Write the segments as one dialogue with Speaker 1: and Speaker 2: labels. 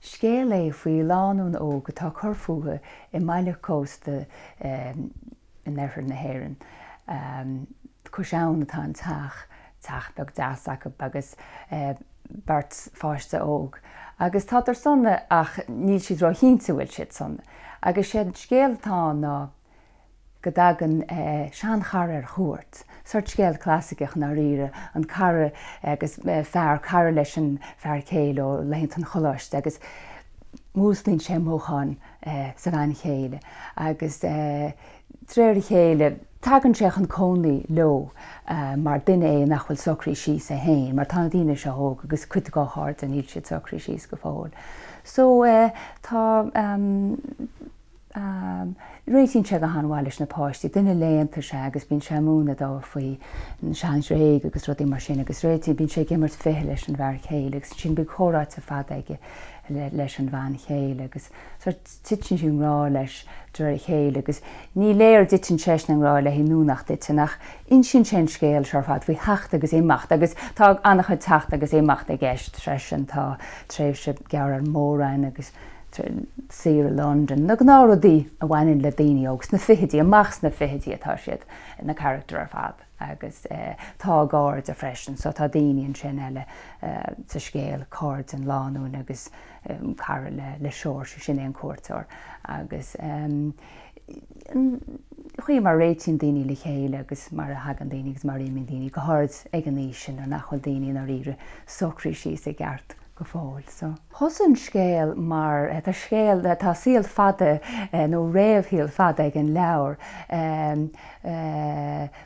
Speaker 1: Scéal é faoi lánúin óg atá ag cur fúthu i mbaile cósta in oirthear na hÉireann. Cois abhann atá an teach, teach beag deas acu agus beirt pháiste óg. Agus tádar sona ach níl siad ró-chinnte an bhfuil siad sona. Agus sé an scéal atá ann ná, go dtagann seanchara ar chuairt, sort scéal clasaiceach, i ndáiríre, an cara agus fear, cara leis an bhfear céile ó laethanta an choláiste agus músclaíonn sé mothúcháin sa bhean chéile agus de réir a chéile, tagann sé chun cónaí leo mar duine é nach bhfuil socraithe síos é féin mar tá na daoine seo óg agus cuid dá chairde, níl siad socraithe síos go fóill. So, tá. Réitíonn sé go han-mhaith leis na páistí, duine léannta is ea é agus bíonn sé ag múineadh dóibh faoi na sean-Ghréagaigh agus rudaí mar sin agus réitíonn, bíonn sé ag imirt ficheall leis an bhfear céile agus ansin bíonn comhráite fada aige leis an bhean chéile agus sórt, titeann sí i ngrá leis de réir a chéile agus ní léir an dtiteann seisean i ngrá léi nó nach dtiteann ach insíonn sé an scéal seo ar fad faoi theacht agus imeacht agus tá an-chuid teacht agus imeacht i gceist freisin, tá tréimhse gearr ar an Mór-Roinn agus. saoire i Londain, na gnáthrudaí a bhaineann le daoine óg sna fichidí, amach sna fichidí atá siad, na carachtair ar fad agus tá a gcairde freisin so tá daoine ansin eile sa scéal, cairde an lánúin agus cara le Seoirse, sin é an cuairteoir agus an chaoi mar a réitíonn daoine le chéile agus mar a thagann daoine agus mar a imíonn daoine, go háirid ag an aois sin nuair nach bhfuil daoine i ndáiríre socraithe síos i gceart. go fóill so. Thosaigh an scéal mar tá scéal, tá saol fada nó réamhshaol fada ag an leabhar.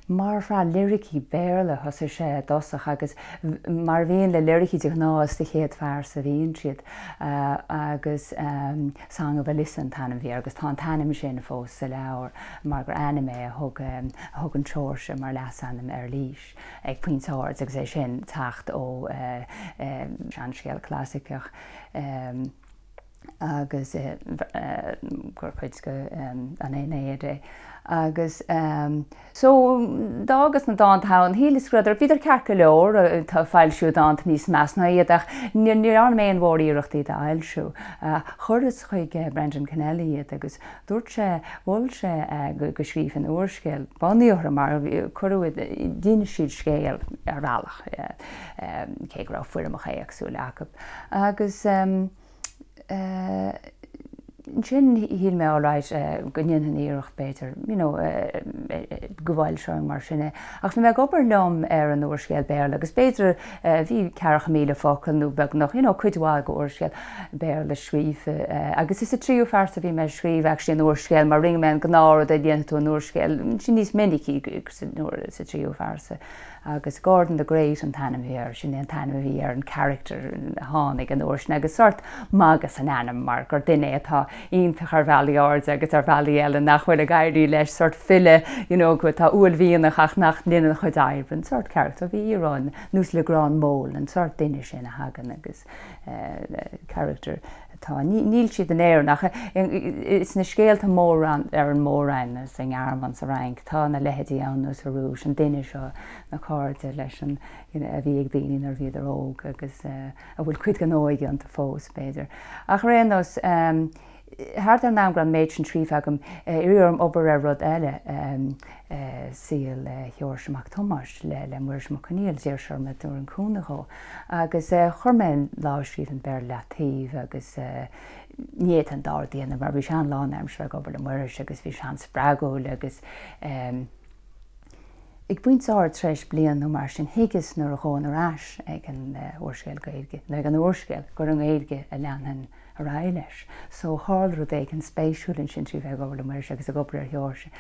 Speaker 1: Mar shraith liricí Béarla thosaigh sé i dtosach agus mar a bhíonn le liricí de ghnáth is sa chéad phearsa a bhíonn siad agus Song of Elissa an t-ainm a bhí air agus tá an t-ainm sin fós sa leabhar mar gur ainm é a thug an Seoirse mar leasainm ar Lís. ag pointe áirid agus é sin ag teacht ó seanscéal clasaiceach agus gur cuid de an Aenéid é. Agus so d'fhágas na dánta ann, shíleas go rabhadar, bhíodar ceart go leor, tá foilsiú dánta níos measa ná iad ach ní dhearna mé aon mhór-iarracht iad a fhoilsiú. Chuireas chuig Brendan Kennelly iad agus Dúirt sé, mhol sé go scríobhfainn úrscéal bunaithe orthu mar cuireadh d'inis siad scéal ar bhealach, cé go raibh foirmeacha éagsúla acu. Agus ansin shíl mé, alright, go ndéanfainn iarracht, b'fhéidir, you know, go bhfoilseoinn mar sin é. Ach bhí mé ag obair liom ar an úrscéal Béarla agus b'fhéidir, Bhí ceathracha míle focal, nó beagnach, you know, cuid mhaith de úrscéal Béarla scríofa. Agus is sa tríú phearsa a bhí mé ag scríobh, actually, an úrscéal, mar rinne mé an gnáth rud a dhéanfaidh tú in úrscéal, sin níos minicí sa tríú phearsa. Agus Gordon the Great an t-ainm a bhí air, sin é an t-ainm a bhí ar an character a tháinig an uair sin, agus sórt magadh san ainm, mar gur duine é atá, iontach ar bhealaí áirithe agus ar bhealaí eile nach bhfuil ag éirí leis, sort file, you know, go, tá uaillmhianach ach nach ndéanann a chuid oibre, an sort carachtar, bhí íoróin ann, nós Le Grand Meaulnes, an sort duine sin a thagann agus, eh, carachtar atá, ní, níl siad in Éirinn ach i, sna scéalta móra ar an Mór-Roinn nó sa nGearmáin, sa Fhrainc, tá na leithéidí ann, nó sa Rúis, an duine seo, na cairde leis an, you know, a bhí ag daoine nuair a bhíodar óg agus, eh, a bhfuil cuid den óige iontu fós, b'fhéidir. Ach ar aon nós, thart ar an am go raibh an méid sin scríofa agam, iarradh orm obair ar rud eile, saol Sheoirse Mac Tomáis le Muiris Mac Conghail, d'iarr sé orm an dtabharfainn cúnamh dhó, agus chuir mé an lámhscríbhinn Béarla ar leataobh, agus ní fhéadfainn an dá rud a dhéanamh, mar bhí sé an-lánaimseartha ag obair le Muiris, agus bhí sé an-spreagúil, agus. Ag pointe áirithe tar éis bliain nó mar sin, thuigeas nuair a ghabhfainn ar ais ag an úrscéal Gaeilge, nó ag an úrscéal, gur i nGaeilge a leanfainn ar aghaidh leis. So, tharla rud éigin spéisiúil ansin trí bheith ag obair le Muiris agus ag obair ar Sheoirse.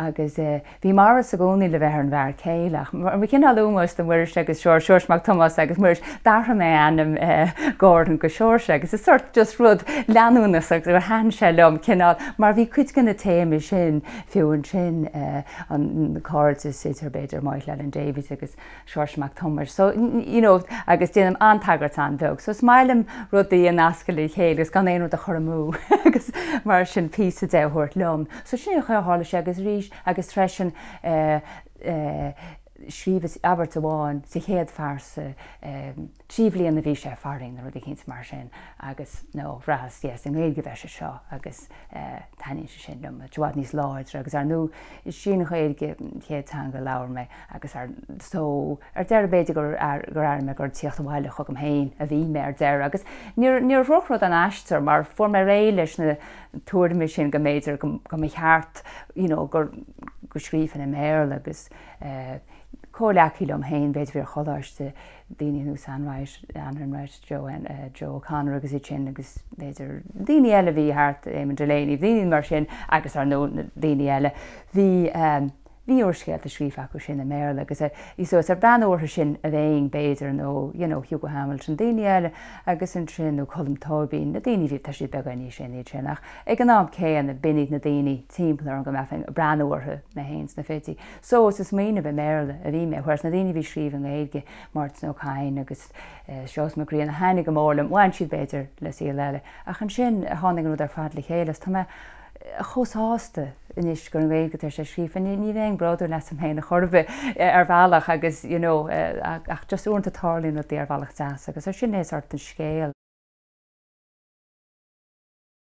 Speaker 1: Agus bhí Maurice i gcónaí le bheith ar an bhfear céile, ach mar chineál ómóis do Mhuiris agus Sheoirse, Seoirse Mac Tomáis agus Muiris, d'athraigh mé ainm Gordon go Seoirse. Agus is sort just rud leanúnachas agus gur thaitin sé liom cineál, mar bhí cuid de na téamaí sin fiú ansin. an cairdeas idir, b'fhéidir, Moya Llewelyn Davies agus Seoirse Mac Tomáis. So, you know, agus déanaim an-tagairt an-bheag. So, is maith liom rudaí a nascadh le chéile agus gan aon rud a chur amú agus mar sin píosa de a thabhairt liom. So, sin é an chaoi a tharla sé agus arís, agus freisin, eh, eh, scríobhas abairt amháin sa chéad phearsa, eh, Trí bliana a bhí sé, farainn, nó rud eicínt mar sin, agus, no, bhraitheas, yes, i nGaeilge a bheidh sé seo, agus taitníonn sé sin liom, i bhfad níos láidre, agus ar ndú, is í an Ghaeilge an chéad teanga a labhair mé, agus ar, so, ar deireadh, b'fhéidir gur, gur airigh mé gur ag tíocht abhaile chugam féin a bhí mé, ar deireadh, agus níor, níor dhrochrud an aistear, mar fuair mé réidh leis na tuairimí sin, go mb'fhéidir go, go mba cheart, you know, gur, go scríofainn i mBéarla, agus eh, comhghleacaí liom féin, b'fhéidir, a bhí ar choláiste, daoine ar nós Anne Enright, Anne Enright, Joe, Joe O'Connor agus iad sin agus b'fhéidir daoine eile a bhí thart, Eamon Delaney, daoine mar sin agus ar ndóigh na daoine eile. Bhí, bhí úrscéalta scríofa acu sin i mBéarla agus so, is ag breathnú orthu sin a bheinn b'fhéidir nó Hugo Hamilton, daoine eile agus ansin, nó Colm Tóibín, na daoine a bhí, tá siad beagáinín níos sine, iad sin ach ag an am céanna b'in iad na daoine timpeall orm go mbeifeá ag breathnú orthu, mé féin sna fichidí. So is ag smaoineamh i mBéarla a bhí mé, whereas na daoine a bhí ag scríobh i nGaeilge, Máirtín Ó Cadhain agus Seosamh Mac Grianna, a thaitin go mór liom, bhain siad b'fhéidir le saol eile, ach ansin tháinig an rud ar fad le chéile agus tá mé chomh sásta anois gur i nGaeilge atá sé scríofa. Ní bhím bródúil asam féin a chor ar bith ar bhealach agus you know ach just uaireanta tarlaíonn rudaí ar bhealach deas agus sin é sórt an scéal.